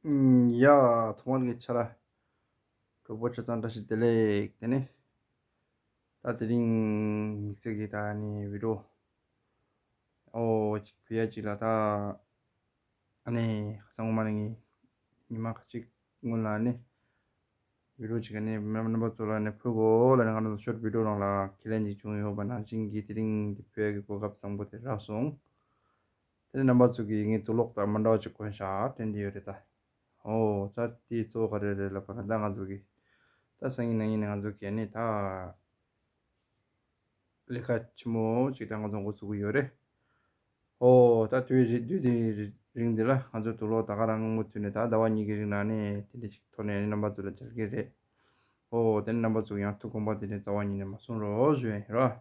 ཡ། ཐོག་མར་གྱི་ཆ་ལ་གྲོགས་པོ་ཁྱོད་ཚང་བཀྲ་ཤིས་བདེ་ལེགས་དེ་ནས། ད་དེ་རིང་མིག་ཚིག་གིས་ད་ནི་བི་དྲོ་ཨོ་ཅིག་བི་ཡ་ཅིག་ལ་ད་ནི་ཁ་སང་ངོ་མ་ནས་ངས་ཉི་མ་ཁ་ཅིག་སྔོན་ལ་ནི་བི་དྲོ་ཅིག་ནི་མོའི་རྣམ་པ་ཚོ་ལ་ནི་ཕོ་གོ་ལ་ནི་ང་རང་ཚོ་ཤོར་བི་དྲོ་རང་ལ་ཁས་ལེན་ཅིག་བྱུང་ཡོད་པ་ནང་བཞིན་གྱི་དེ་རིང་འདི་བོད་ཀྱི་གོ་སྐབས་བཟང་པོ་དེ་རག་སོང། དེ་ནས་རྣམ་པ་གཙུག་གི་ཡིག་རྙིང་དུ་ལོག་ལྟ་མི་འདྲ་བ་ཅིག་གོན་ཤག་དྲན་བདེ་ཡོད་རེད་ད། ཧོ། ད་དེའི་གཙོ་བོ་ག་རེ་རེད་ལབ་པ་ན་ད་ང་ཚོ་གི། ད་སང་ཉིན་ནང་ཉིན་ནས་ང་ཚོ་གས་ནས་ད། ལས་ཀ་ཆེན་མོ་ཅིག་ད་ང་ཚོ་འགོ་ཚུགས་གི་ཡོད་རེད། ཧོ། ད་དུས་རེད་དུས་དེ་རིང་འདི་ལ་ང་ཚོ་དུ་ལོག་ལྟ་ག་རང་མུ་མཐུད་ནས་ད་ཟླ་བ་གཉིས་ཀྱི་རིང་ནང་ནས་དེ་འདྲ་ཅིག་ཐོག་ནས་ནི་རྣམ་པ་གཙུག་ལ་མཇལ་གི་རེད། ཧོ། དེ་ནས་རྣམ་པ་གཙུག་ཡང་ཐུགས་དགོངས་པ་དེ་ནས་རྩ་བ་ཉིད་ནས་མ་གསུངས་རོགས་ཞུ་ཡིན་རོགས།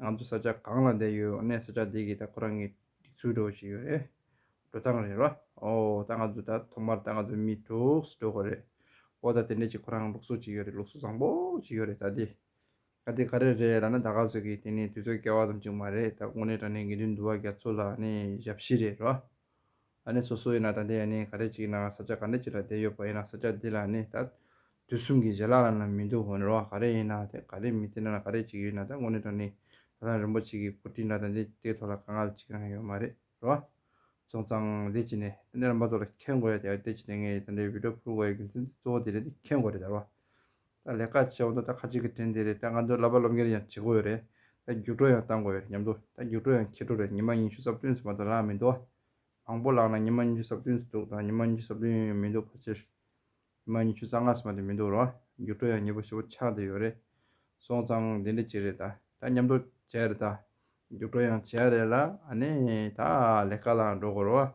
ང་ཚོ་ས་ཆ་གང་ལ་བསྡད་ཡོད་འོ་ན་ས་ཆ་དེ་གའི་ད་ཁོ་རང་གི་སྒྲིག་ཚུལ་འགྲོ་བཞིན་ཡོད་རེད། འགྲོ་སྟངས་རེད་རོ། ཨོ། ད་ང་ཚོ་ད་ཐོག་མར་ད་ང་ཚོ་མི་དྲུག་སུ་འགྲོ་དགོས་རེད། ཨོ་ད་དེ་འདྲས་ཅིག་ཁོ་རང་ལུགས་སྲོལ་ཅིག་ཡོད་རེད་ལུགས་སྲོལ་བཟང་པོ་ཅིག་ཡོད་རེད་ད་དེ་ག་དེ་ག་རེ་རེད་ལ་ན་ད་ག་ཟེར་གི་དེ་ནི་དུས་ཚོད་བསྐལ་བ་ཙམ་ཅིག་མ་རེད་ད་དགུང་ནས་དྲ་གནས་དགེ་འདུན་འདུ་བ་རྒྱ་མཚོ་ལ་ནི་ཞབས་ཕྱི་རེད་རོ། ཨ་ནི་སོ་སོ་ཡིན་ན་ད་འདི་ཡ་ནི་ག་རེ་ཅིག་ཡིན་ནའང་ས་ཆ་ག་འདྲ་ཅིག་ལ་བསྡད་ཡོད་པ་ཡིན་ན་ས་ཆ་འདི་ལ་ནི་ད་དུས་གསུམ་གྱི་བཞེས་ལག་ལ་ནི་མི་འདུག་འོན་རུང་བ་ག་རེ་ཡིན་ནའང་དེ་ག་རེ་མི་དེ་ན་ན་ག་རེ་ཅིག་ཡོད་ན་ད་དངོས་གནས་དོན་ནི་ད་ཐང་རིན་པོ་ཆེ་གི་སྐུ་དྲིན་ལ་ད་འདི་དེའི་ཐོག་ལ་དཀའ་ངལ་ཅིག་ཀྱང་ཡོད་མ་རེད་རོ། སོང་ཙང་འདི་ཅི་ནས་ཨ་ནི་རིན་པ་ཚོ་ལ་མཁྱེན་དགོས་ཡ་དེ་ཡ་དེ་ཅི་ནས་ངས་ད་འདྲའི་བིད་ཀྲོ་ཕུལ་དགོས་ཡ་རྒྱུ་མཚན་གཙོ་བོ་འདི་རེད་འདི་མཁྱེན་དགོས་རེད་ད་རོ། ད་ལས་ཀ་བྱས་འོང་དུས་ད་ཁ་ཅིག་གི་དྲན་དེ་རེད་ད་ང་ཚོའི་ལབ་པ་སློབ་མཁན་རེད་ཡང་བྱེད་དགོས་ཡོད་རེད་ད་རྒྱུགས་སྤྲོ་ཡང་བཏང་དགོས་ཡོད་རེད་སྙམ་འདུག་ད་རྒྱུགས་སྤྲོ་ཡང་ཁྱེད་དྲུག་རེད་ཉི་མ་ཉི་ཤུ་གསབ་བསྟུན་སུ་མ་གཏོགས་ལངས་མི་འདུག་མང་པོ་ལངས་ན་ཉི་མ་ཉི་ཤུ་གསབ་བསྟུན་སུ་འདུག་དང་ཉི་མ་ཉི་ཤུ་གསབ་བསྟུན་ཡོད་མི་འདུག་ཕལ་ཆེར་ཉི་མ་ཉི་ཤུ་རྩ་ལྔ་སུ་མ་དེ་མི་འདུག་རུང་རྒྱུགས་སྤྲོ་ཡང་ཉེ་པོ་བཞི་པོ་ཆགས་བསྡད་ཡོད་རེད་སོང་ཙང་འདི་འདྲ་ཅིག་རེད་ད་མཉམ་འགྲོ་བྱས་རེད་ད་རྒྱུགས་སྤྲོ་ཡང་བྱས་རེད་ལ་ཨ་ནི་ད་ལས་ཀ་ལ་འགྲོ་དགོས་རུང་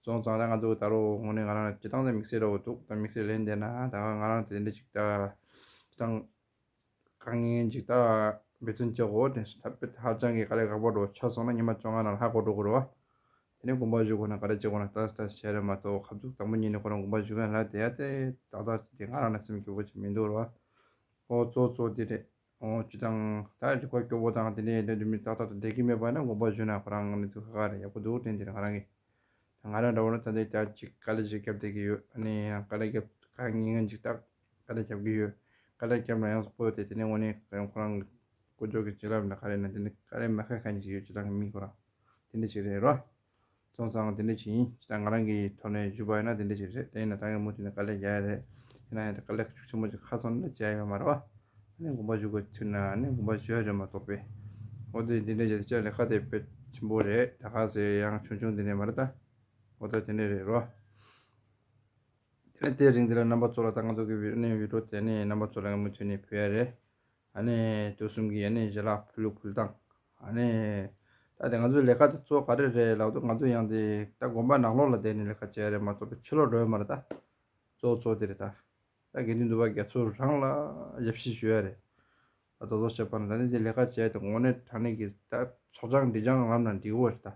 རྫོང་ཚང་ལ་ང་འདུག་ད་རོགས་ངོ་ནས་ང་རང་ལ་བྱེད་སྟངས་དང་མིག་སེར་རོགས་འདུག་དང་མིག་སེར་ལེན་བསྡད་ན་ད་ག་ང་རང་དེ་འདྲ་ཞིག་ད། བྱེད་སྟངས་དཀའ་ངལ་འཇིག་ད་འབད་བརྩོན་བྱེད་དགོས་དེ་ས་ཕུད་ཧ་ཅང་གི་ག་ལེ་ག་པོ་འགྲོ་ཆ་སོང་ན་ཉི་མ་བཅོ་ལྔ་ནང་ལ་ཧ་གོ་འགྲོ་དགོས་རེད་བ། དེ་ནས་དགོངས་པ་བཞུགས་དགོས་ན་ག་རེ་བྱེད་དགོས་ན་ལྟ་ལྟ་བྱས་རེད་མ་གཏོགས་ཁ་ཐུག་དང་པོ་ཉིད་ནས་ཁོ་རང་དགོངས་པ་བཞུགས་མཁན་ལ་དེ་ཡ་དེ་ད་ལྟ་བྱས་དེ་ང་རང་ལ་སེམས་སྐྱོ་པོ་ཅིག་མི་འདུག་རེད་བ། ཨོ་གཙོ་གཙོ་འདི་རེད། སྤྱི་དང། ད་ཡོད་ཀྱི་སྐོར་སྐྱོ་བོ་དང་དེ་འདྲའི་ཡིན་དོན་དུ་མི་རྟག་རྟག་ཏུ་བསྡད་ཀྱི་མེད་པ་ན་དགོངས་པ་བཞུགས་ན་ཁོ་རང་ནི་ཐུགས་ཁ་ཁ་ལ་ཡག་པོ་འདུག་དེ་འདིར་ང་རང་གིས་ད་ང་རང་འདྲ་བོ་ནི་ད་ལྟའི་བསྐྱར་ཅིག་དཀའ་ལས་ཞིག་བརྒྱབ་བསྡད་ཀྱི་ཡོད་ཨ་ནི་ཡང་དཀའ་ལས་བརྒྱབ་དཀའ་ངེས་ངེས་འཇིག་ཐག་དཀའ་ལས་བརྒྱབ་ཀྱི་ཡོད་དཀའ་ལས་བརྒྱབ་ན་ཡང་བསྐོ་ཡོད་དེ་དེ་ནི་དངོས་གནས་ཁོ་རང་ཁོ་རང་གི་བསྐོ་འཇོག་གི་བྱིན་རླབས་ལ་ཁ་རེ་ན་དེ་ནི་དཀའ་ལས་མ་ཁ་མཁན་ཞིག་ཡོད་སྤྱི་དང་མི་ཁོ་རང་དེ་འདྲ་ཞིག་རེད་རོ། ཚོང་ཚང་དེ་འདྲ་ཞིག་ཡིན་ཅི་ད་ང་རང་གི་ཐོག་ནས་ཞུ་བ་ཡིན་ན་དེ་འདྲ་ཞིག་རེད་དེ་ཡིན་ན་ད་ངས་མུ་མཐུད་ནས་དཀའ་ལས་རྒྱག་ཡ་རེད་ཡིན་ན་ཡང་དཀའ་ལས་ཆེན་པོ་ཅིག་ཁ་ཚོན་ནས་འཇལ་ཡོད་མ་རེད་བ། ནས་དགོངས་པ་ཞུ་དགོས་ཚུལ་ནས་ནས་དགོངས་པ་ཞུ་ཡ་རེད་མ་གཏོགས་པས། འོ་དེ་འདི་འདྲ་ཞིག་ལས་ཀ་དེ་དཔེ་ཆེན་པོ་རེད་ད་ཁ་ཟེར་ཡང་ཆུང་ཆུང་དེ་འདྲ་མ་རེད་ད། འོ་ད་དེ་འདྲ་རེད་རོ། དེ་ནས་དེ་རིང་འདི་ལ་རྣམ་པ་ཚོ་ལ་ད་ང་ཚོ་གི་ཝི་ཨོ་ནེ་ཝི་ཀྲོ་དེ་ནས་རྣམ་པ་ཚོ་ལ་ངས་མུ་མཐུད་ནས་ཕུལ་ཡ་རེད། ཨ་ནེ། དུས་གསུམ་གྱི་ཡེ་ནས་བཞེས་ལགས་ཕུ་ལུག་ཕུལ་དང། ཨ་ནེ། ད་དེ་ང་ཚོའི་ལས་ཀ་དེ་གཙོ་བོ་ག་རེ་རེད་ལབ་དུ་ང་ཚོ་ཡང་དེ་ད་དགོན་པ་ནག་ལོག་ལ་བསྡད་ནས་ལས་ཀ་བྱས་རེད་མ་གཏོགས་པའི་ཕྱི་ལོག་འགྲོ་ཡ་མ་རེད་ད། གཙོ་བོ་གཙོ་བོ་དེ་རེད་ད། ད་དགེ་འདུན་འདུ་བ་དགེ་ཚོ་རང་ལ་ཞབས་ཕྱི་ཞུ་ཡ་རེད། ད་རྡོག་རྡོག་བྱས་པ་ན་ད་ནི་དེ་ལས་ཀ་བྱས་དེ་དགོང་ནས་དྲང་གནས་ཀྱི་ད་ཚོགས་ཆང་འདི་ཆང་རམ་ན་འགྲིག་འོ་རེད་ད།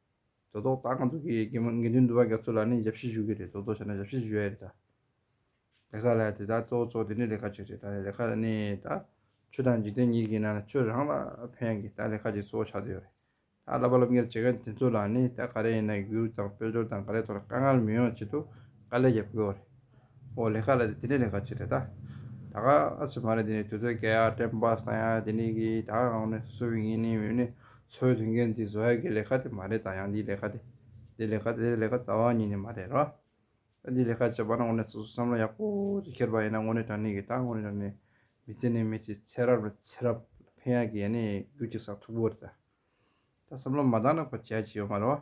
དོ་བདག་ད་གང་དུ་གི་གི་མ་དགེ་འདུན་འདུ་བ་རྒྱ་མཚོ་ལ་ནི་ཞབས་ཕྱི་ཞུ་གི་རེད་དོ་བདག་བྱས་ན་ཞབས་ཕྱི་ཞུ་ཡ་རེད་ད། ལས་ཁ་ལ་དེ་དག་གཙོ་བོ་གཙོ་བོ་དེ་འདྲའི་ལས་ཁ་ཅིག་རེད་ད་ལས་ཁ་ནི་ད། ཆོས་དང་འཇིག་རྟེན་གཉིས་ཀྱི་ནང་ལ་ཆོས་རང་ལ་ཕན་ཡ་གི་ད་ལས་ཁ་ཅིག་གཙོ་བོ་ཆགས་དུ་ཡོ་རེད་ད་བསླབ་པ་བསླབ་གཉེར་བྱེད་མཁན་དེ་ཚོ་ལ་ནི་ད་ག་རེ་ཡིན་ན་གུར་དང་དཔལ་འབྱོར་དང་ག་རེ་ཐོག་ལ་དཀའ་ངལ་མི་ཡོང་ཆེད་དུ་དཀའ་ལས་རྒྱབ་གི་ཡོ་རེད་ཨོ་ལས་ཁ་ལ་དེ་དེ་འདྲའི་ལས་ཁ་ཅིག་རེད་ད། ད་ག་ཨ་ཚོད་མ་རེད་དེ་ནི་དུས་ཚོད་བསྐལ་ཡ་དྲན་པ་སང་ཡ་དེ་འདྲའི་གི་ད་ག་ནི་སུ་ཡིན་ནི་མི་ཡིན་ནི། ཚོའི་ལས་འགན་འདི་བཟོ་ཡ་གི་ལས་ཀ་དེ་མ་རེད་ད་ཡང་འདིའི་ལས་ཀ་དེ་འདི་ལས་ཀ་དེ་ལས་ཀ་རྩ་བ་ཉིད་ནས་མ་རེད་ར། འདིའི་ལས་ཀ་བྱེད་པ་ན་དངོས་གནས་སོ་སོས་བསམ་བློ་ཡག་པོ་དེ་འཁྱེར་པ་ཡིན་ན་དངོས་གནས་དྲང་གནས་ཀྱི་ད་དངོས་གནས་དྲང་གནས་མི་ཚེ་ནི་མི་ཚེ་ཚེ་རབས་ནས་ཚེ་རབས་ལ་ཕན་ཡ་གི་ཡ་ནི་རྒྱུ་གཅིག་ཟ་ཐུག་པོ་རེད་ད། ད་བསམ་བློ་མ་བཏང་ན་ཁོ་བྱས་ཀྱི་ཡོད་མ་རེད་བ།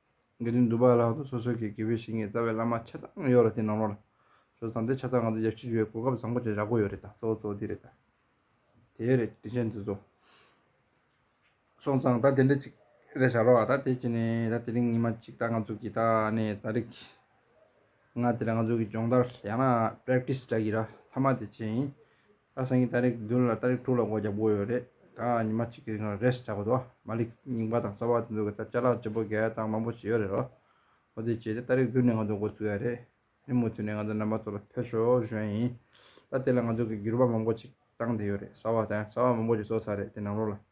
དགེ་འདུན་འདུ་བག་ལྷག་ཏུ་སོ་སོའི་གི་དགེ་བའི་བཤེས་གཉེན་རྩ་བའི་བླ་མ་ཆ་ཚང་ཡོད་ལ་དེ་ནང་རོགས་ལ་ཇོ་བཟང་དེ་ཆ་ཚང་ང་ཚོ་རྒྱལ་སྤྱི་ཞུ་བའི་གོ་སྐབས་བཟང་པོ་ཅིག་རག་གོ་ཡོད་རེད་ད་གཙོ་བོ་གཙོ་བོ་འདི་རེད་ད་དེ་རེད་དྲིན་ཆེན་འདི་ཚོ། སོང་ཙང་ད་དེ་འདྲ་ཅིག་རེ་བྱ་རོགས་ཨ་ད་དེ་ཅི་ནས་ད་དེ་རིང་ཉིན་མ་ཅིག་ད་ང་ཚོ་གི་ད་ནས་ད་རིག་ང་དེ་ར་ང་ཚོ་གི་སྦྱོང་བརྡར་ཡང་ན Practice འདྲ་གི་ར་མཐའ་མ་དེ་བྱེད་ཡིན་ཨ་སངས་ཀྱིས་ཏཱ་རེག་བདུན་ལ་ཏཱ་རེག་དྲུག་ལ་སྒོ་རྒྱབ་དགོས་ཡོད་རེད་ད་ཉི་མ་གཅིག་གི་རིང་ལ་རེས་ཆགས་པ་འདུག་མ་ལིག་རྙིང་པ་དང་གསར་བ་དེ་ཚོ་གི་ད་བཅའ་ལག་བྱེད་པོ་འགས་སྟངས་མང་པོ་བྱས་ཡོད་རེད་རོ། ཨོ་དེ་བྱས་ཏེ་ཏཱ་རེག་བདུན་ནས་ང་ཚོ་སྒོ་བཙུགས་ཡ་རེད་ཨེ་མུ་མཐུད་ནས་ང་ཚོ་རྣམ་པ་ཚོ་ལ་ཕེབས་ཤོག་གཞོན་ཡིན། ད་དེ་ལ་ང་ཚོ་གི་འགྱུར་བ་མང་པོ་ཅིག་བཏང་བསྡད་ཡོད་རེད་གསར་བ་དང་གསར་བ་མང་པོ་ཅིག་བཟོ་ས་རེད་དེ་ནང་ལོགས་ལ།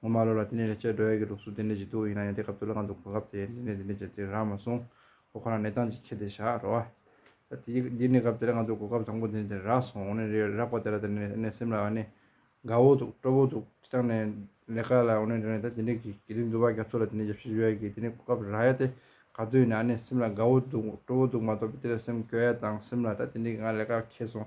ངོ་མ་ལོ་ལ་དེ་ནས་ལས་བྱེད་སྒྲོལ་ཡག་གི་ལུགས་སུ་དེ་འདྲས་ཀྱི་འདུག་ཡིན་ན་ཡང་དེ་སྐབས་དུ་ལ་ང་འདུག་གོ་སྐབས་དེ་འདི་ནས་དེ་འདྲས་བྱས་ཚེ་རག་མ་སོང་ཁོ་ཁོ་རང་གནས་སྟངས་ཅིག་ཁྱེར་ཏེ་བཞག་རོགས་ཨ། འདི་ནས་སྐབས་དེ་ལ་ང་འདུག་གོ་སྐབས་དང་པོ་དེ་འདྲས་དེ་རག་སོང་ཨོ་ནི་རག་པ་དེ་ལ་དེ་ནས་ཨེ་ནས་སེམས་ལ་ཨ་ནི། དགའ་བོ་འདུག་སྤྲོ་བོ་འདུག་ཅི་ལྟར་ནས། ལས་ཀ་ལ་ཨོ་ནི་རེ་ནས་ད་དེ་འདྲས་ཀྱི་གལ་ཏེ་འདུག་བ་རྒྱ་མཚོ་ལ་དེ་ནས་ཡབ་གཞིས་བཞུགས་ཡག་གི་དེ་ནས་གོ་སྐབས་རག་ཡ་དེ་ག་དུས་ནས་ཨ་ནི་སེམས་ལ་དགའ་བོ་འདུག་སྤྲོ་བོ་འདུག་མ་གཏོགས་པའི་དེ་ལ་སེམས་སྐྱོ་ཡ་དང་སེམས་ལ་ད་དེ་འདྲས་ཀྱི་ང་ལས་ཀ་ཁྱེར་སོང་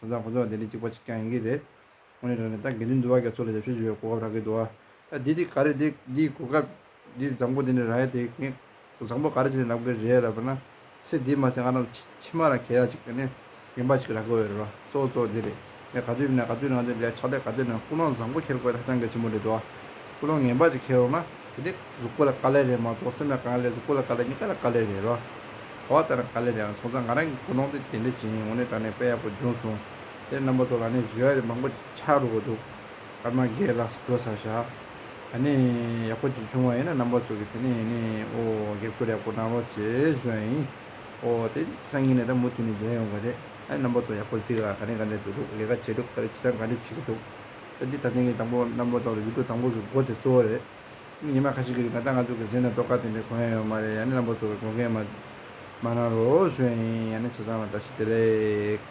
ས་མཚམས་ཁོ་ཚོ་ལ་དེ་ལས་གཅིག་པ་གཅིག་རྐྱང་ཡིན་གྱི་རེད། ཁོང་ནི་རང་ནས་ད་དགེ་འདུན་འདུལ་བ་རྒྱ་མཚོ་ལ་ཞབས་ཞུ་ཞུ་བའི་གོ་སྐབས་རག་གི་འདུག་ཨ། ད་འདི་འདི་ག་རེད་འདི་འདིའི་གོ་སྐབས། འདི་བཟང་པོ་འདི་ནི་ར་ཡ་དེ་ངས་བཟང་པོ་ག་རེ་བྱས་ནས་ལབ་གི་རེད་ལབ་པ་ན། ཚེ་འདི་མ་ཚེ་ང་རང་ཕྱི་མ་ལ་གད་ཡག་ཅིག་ནས་རྒན་པ་ཞིག་རག་གི་འོས་རེད་བ། གཙོ་བོ་གཙོ་བོ་འདི་རེད། ངས་ག་དུས་ནས་ག་དུས་ནང་དུ་ལས་ཕྱག་ལས་ག་དུས་ནས་ཀུན་སློང་བཟང་པོ་འཁྱེར་དགོས་ཧ་ཅང་གལ་ཆེན་པོ་རེད་འདུག་ཨ། ཀུན་སློང་ངན་པ་ཅིག་འཁྱེར་རོགས་ན། དེ་ནི་གཟུགས་པོ་ལ་དཀའ་ལས་རེད་མ་གཏོགས་སེམས་ལ་གང་ལས་གཟུགས་པོ་ལ་དཀའ་ལས་གཉིས་ཀ་ལ་དཀའ་ལས་རེད་རོ། གོ་བ་ལྟར་ན་དཀའ་ལས་རེད་ཨང་ཁོང་ཚོ་ང་རང་གི་གོ་ནོར་དེ་དེ་འདྲ་བྱས་ཡིན་འོ་ནི་ད་ནས་དཔེ་ཡག་པོ་འབྱུང་སོང། དེར་རྣམ་པ་ཚོ་ལ་ནི་བཞི་བ་མང་པོ་ཆགས་འགྲོ་གི་འདུག་སྐར་མ་འགའི་ལགས་སུ་སྡོད་ས་ཞག་ད་ནི་ཡག་པོ་ཅིག་བྱུང་བ་ཡིན་ན་རྣམ་པ་ཚོ་གི་དེ་ནས་ནི་ཨོ་སྒེར་སྐོར་ཡག་པོ་གནང་རོགས་ཅེས་བཞོན་ཡིན་ཨོ་དེ་སང་ཉིན་ནས་ད་མུ་མཐུད་ནས་མཇལ་ཡོང་གི་རེད་ཨ་ནི་རྣམ་པ་ཚོ་ཡག་པོ་གཟིགས་ཨ་ག་ནས་ག་འདྲ་འདུག་ལས་ཀ་བྱས་འདུག་ག་རེ་བྱེད་དང་ག་འདྲ་བྱེད་ཀྱི་འདུག། ད་འདི་ད་ཐེངས་ཀྱི་དང་པོ་གནམ་སྒོ་ཐོག་ལ་ཡུལ་སྐོར་དང་པོ་གི་སྒོ་དེ་གཙོ་བོ་རེད། ཉི་མ་ཁ་ཤས་ཀྱི་རིང་ད་ལྟ་ང་ཚོ་གི་གཟིགས་ན་ལྟོ་ག་དེ་འདྲའི་གོ་ཡ་ཡོད་མ་རེད་ཡང་ནི་གནམ་སྒོ་གཙོ་བའི་སྒོ་འགེལ་མ་མ་གནང་རོགས་ཞུ་ཡ་ཡིན་ཡང་ནི་ཚོ་ཚང་ལ་བཀྲ་ཤིས་བདེ་ལེགས།